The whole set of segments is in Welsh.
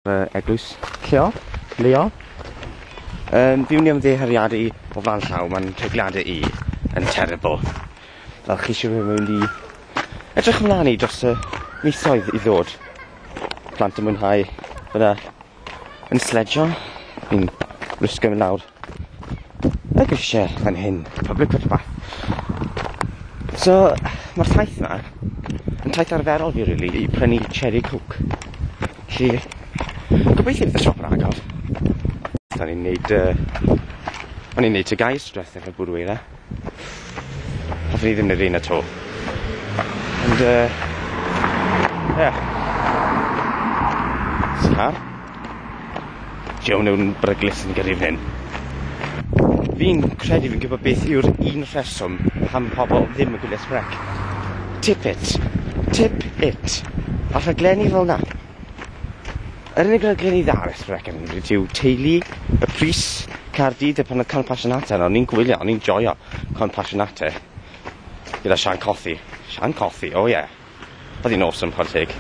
Fy eglwys. Lleol? Leol? Um, fi wni am ddehariadu o flan llaw, mae'n tregliadau i yn terrible. Fel chi eisiau rhywun mynd i edrych ymlaen i dros y misoedd i ddod. Plant yn mwynhau fyna yn sledjo, fi'n rysgo mynd lawr. y grisiau fan hyn, public footpath. So, mae'r taith yma yn taith arferol fi, really, i prynu cherry coke. Felly, gobeithio bydd y siop yn agor. Da ni'n neud, uh, o'n i'n neud tygau stress efo bwrw eira. Hoffwn i ddim yr un at all. Ond yy ie. Scar? Joe Newton beryglus yn gyrru fyn 'yn. Fi'n credu fi'n gwybod beth yw'r un rheswm pam pobol ddim yn gwylio Shrek. Tip it. Tip it. A rhaglenni fel 'na. Yr unig raglen i ddal Sbel FM rydw yw Teulu, Y Pris, Caerdydd a pan oedd Cân Passionata yna o'n i'n gwylio o'n i'n joio Cân Passionata gyda Sian Cothi. Sian Cothi o ie. Oedd hi'n awesome chware teg.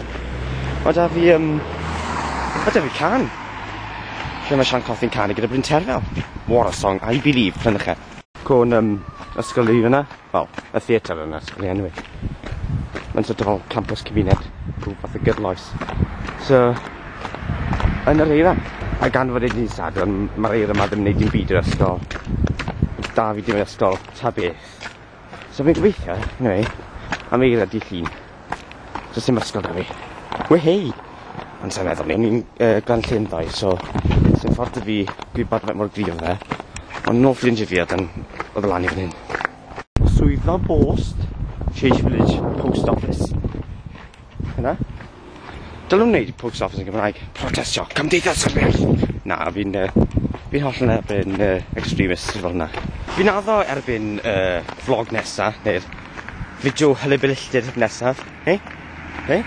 Ma' 'da fi yym ma' 'da fi cân lle ma' Sian Cothi'n canu gyda Bryn Terfel. What a song I believe prynych e. Cân yym ysgol fi fan 'na. Wel, y theatr yna, sgen i enw i. Mae'n sort of fel campus cymuned, rhyw fath o gydloes. So, yn yr eira, a gan fod e'n dydd Sadwrn, mae'r eira yma ddim yn neud dim byd i'r ysgol. Da fi dim yn ysgol, ta beth. So fi'n gobeithio, anyway, am eira dydd Llun. Does dim ysgol 'da fi. Wehei! Ond sai'n meddwl 'ny. O'n i'n yy Glan Llyn ddoe so sdim ffordd 'da fi gwybod faint mor gryf yw e. Ond nôl ffrindie fi odd yn odd lan i fyn 'yn. Swyddfa bost Change Village post office. Hwnna. Dylwn neud post office yn Gymraeg. Protestio. Cymdeithas yr iaith! Na fi'n yy fi'n hollol yn erbyn yy extremists fel 'na. Fi'n addo erbyn yy vlog nesa neu'r Fideo Hyle Billtir nesaf. Hei? Hei?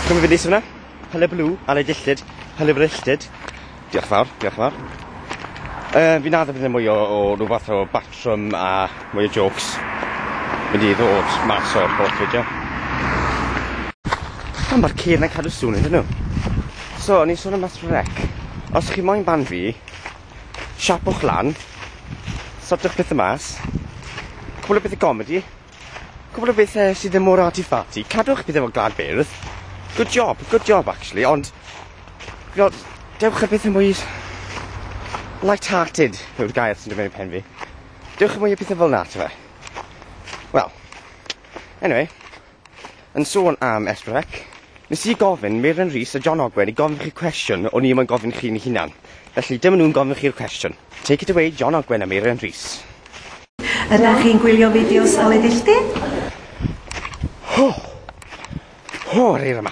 Chi'n gwybod beth yna? Hyle Blue, Ale Dilltid, Hyle Brilltid. Diolch fawr, diolch fawr. Uh, fi'n addo bydd mwy o, o rhywbeth o batrwm a mwy o jokes. Mynd i ddod mas o'r holl fideo. A mae'r ceir yn cadw sŵn iddyn nhw. So, o'n i'n sôn am mas rec. Os chi moyn ban fi, Siapwch lan. Sortwch pethe mas. Cwpl o bethe comedi. Cwpl o bethe sydd ddim mor arty-farty. Cadwch pethe fel glad beirdd. Good job, good job actually, ond... Fel, dewch ar bethe mwy... Light-hearted yw'r gair sy'n dod mewn i pen fi. Dewch i mwy o pethe fel 'na, t'be'? Wel, anyway, yn sôn am Esbyrec, nes i gofyn Meiren Rees a John Ogwen i gofyn chi cwestiwn o'n i ddim yn gofyn chi'n hunan. Felly, dyma nhw'n gofyn chi'r cwestiwn. Take it away, John Ogwen a Meiren Rees. Ydych chi'n gwylio fideos o le filltir? Ho! Ho'r eira 'ma!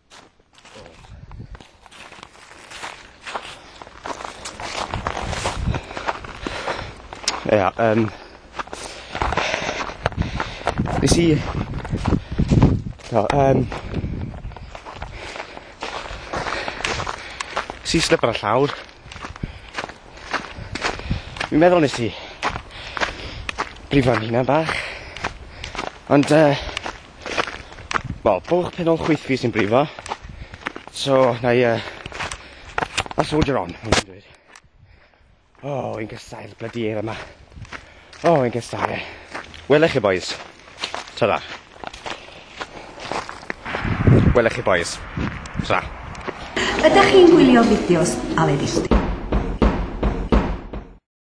Ia, yym... Nes i... Do, yym... Nes i slip ar y llawr. Fi'n meddwl nes i... Brifo fy hunan bach. Ond yy... Wel, bwlch penol chwith fi sy'n brifo. So, na i... Uh, a soldier on, o'n i'n dweud. O, oh, yn gysau'r blydi eir yma. O, oh, yn gysau e. Welech chi, boys. Ta-da. Welech chi, boys. Ta. Ydych chi'n gwylio fideos Aled Ishti?